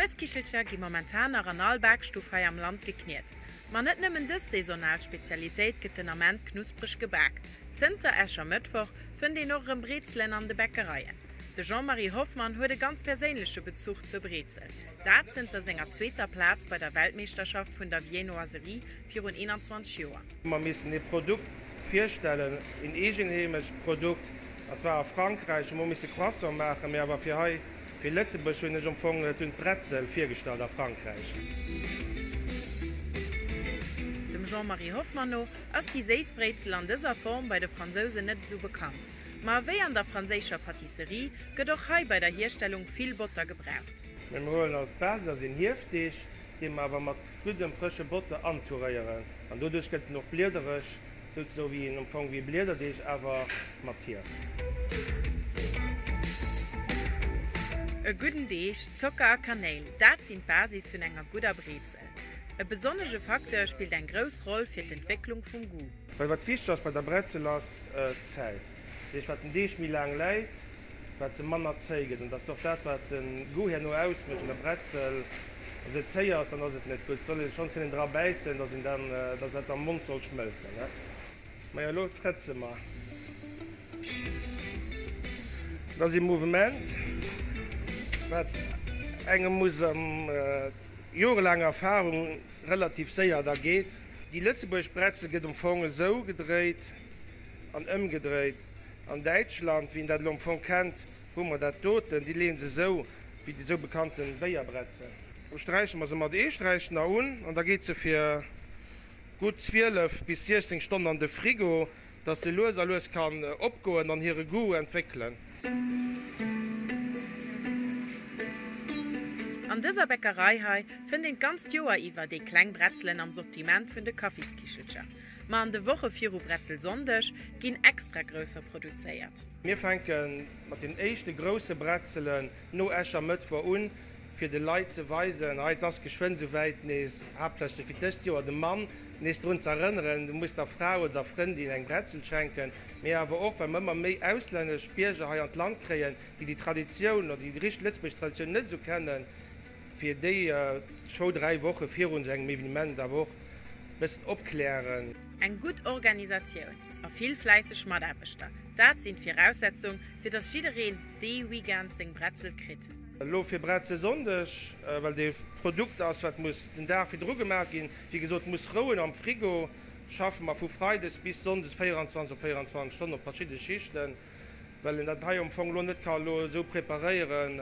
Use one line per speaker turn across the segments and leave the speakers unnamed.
D'Fueskichelcher gi momentan nach an all Bakstuff hei am Land gekniet. Ma net nëmmen dës saisonal Spezialitéit gëtt den Ament knuspreg gebak. Zënter Äschermëttwoch fënnt een och erëm Breezelen an de Bäckereien. De Jean-Marie Hoffmann huet e ganz perséinleche Bezuch zur Breezel, dat zënter senger zweeter Plaz bei der Weltmeeschterschaft vun der Viennoiserie Virun 21 Joer. Mer missen ee Produkt virstellen, een eegenheemescht Produkt, dat war a Frankräich, hu mer misse Croissant maachen, mee awer fir hei, fir Lëtzebuerg hunn ech empfongen, et hunn d'Bretzel virgestallt a Frankräich. Dem Jean-Marie Hoffmann no ass déi séiss Brézel an dëser Form bei de Fransousen net esou bekannt. Ma ewéi an der franséischer Patisserie gëtt och hei bei der Hierstellung vill Botter gebraucht. Mee mer huelen als Basis een Hiefdeeg, dee mer awer mat Gutt am frësche Botter antouréieren an doduerch gëtt en och bliedereg, sou sou wéi een am Fong wéi Bliederdeeg awer mat Hief. E gudden Deeg, Zocker a Kanéil, dat sinn d'Basis vun enger gudder Brezel. E besonnege Facteur spillt eng grouss Roll fir d'Entwécklung vum Goût. Well wat wichteg ass bei der Bretzel ass d'Zäit, deeg wat den Deeg méi laang läit, wat se manner zéi gëtt. An et ass och dat, wat de Goût herno ausmécht un der Bretzel, wa se zéi ass, dann ass et net gutt. Et soll ee schonn kënnen dra bäissen, dass een dann, dass dat am Mond soll schmëlzen. Majo, elo trëtt se mer. Et ass ee Mouvement, wat engem muss a jorelaang Erfahrung relativ séier da geet. Déi lëtzebuergesch Bretzel gëtt um Fong esou gedréit an ëmgedréit. An Däitschland, wéi een dat elo am Fong kennt, hu mer dat doten, déi leeën se esou wéi déi esou bekannte Béierbretzen. Do sträiche mer se mat Eesträich nach un an da geet se fir gutt 12 bis 16 Stonnen an de Frigo, dass se lues a lues kann opgoen an hire Goût entwéckelen. An dëser Bäckerei hei fënnt een d'ganzt Joer iwwer déi kleng Bretzelen am Sortiment vun de Kaffiskichelcher. Ma an de Woche viru Bretzelsonndeg ginn extra grousser produzéiert. Mir fänke mat den éischte grousse Bretzelen no Äschermëttwoch un, fir de Leit ze weisen, hei, et ass geschwënn esou wäit, nees, haaptsächlech fir dëst Joer, de Mann nees drun ze erënneren, Du muss der Fra oder der Frëndin eng Bretzel schenken. Mee awer och, well mer ëmmer méi auslännesch Bierger hei an d'Land kréien, déi déi Traditioun oder déi richteg lëtzebuergesch Traditioun net esou kennen, Fir déi zwou, dräi Woche virun sou engem Evenement awer och e bëssen opklären. Eng gutt Organisatioun a vill fläisseg Mataarbechter, dat sinn d'Viraussetzung fir dass jiddereen dee Weekend seng Bretzel kritt. Elo fir Bretzelsonndeg, well et ee Produkt ass wat muss den Dag virdru gemaach ginn, wéi gesot muss rouen am Frigo, schaffe mer vu Freides bis Sonndes 24 op 24 Stonnen op verschidde Schichten, well een dat hei am Fong elo net ka elo esou preparéieren.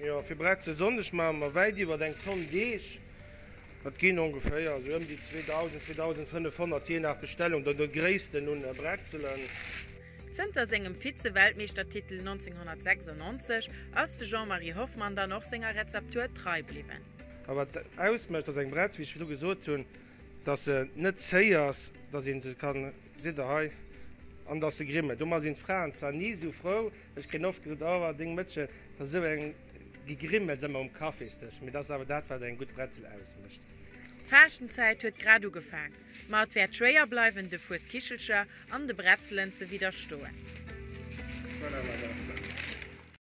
Jo, fir Bretzel Sonndeg maache mer wäit iwwert eng Tonn Deeg. Dat ginn ongeféier esou ëm déi 2.000, 2.500, jee nach Bestellung der der Gréissten, un Bretzelen. Zënter sengem Vize-Weltmeeschtertitel 1996 ass de Jean-Marie Hoffmann dann och senger Rezeptur trei bliwwen. A wat ausmécht ass eng Bretz, wéi ech virdru gesot hunn, datt se net zéi ass, datt ee se kann, seet der hei, an datt se grimmet. Do ma sinn d'Fraen zwar ni esou frou. Ech kréien oft gesot, Oh, deng Mëttchen, et ass esou eng Gegrimmels ëmmer um Kaffisdësch. Mee et ass awer dat, wat eng gutt Bretzel ausmécht. D'Faaschtenzäit huet grad ugefaang, ma et wäert schwéier bleiwen, de Fueskichelcher an de Bretzelen ze widderstoen.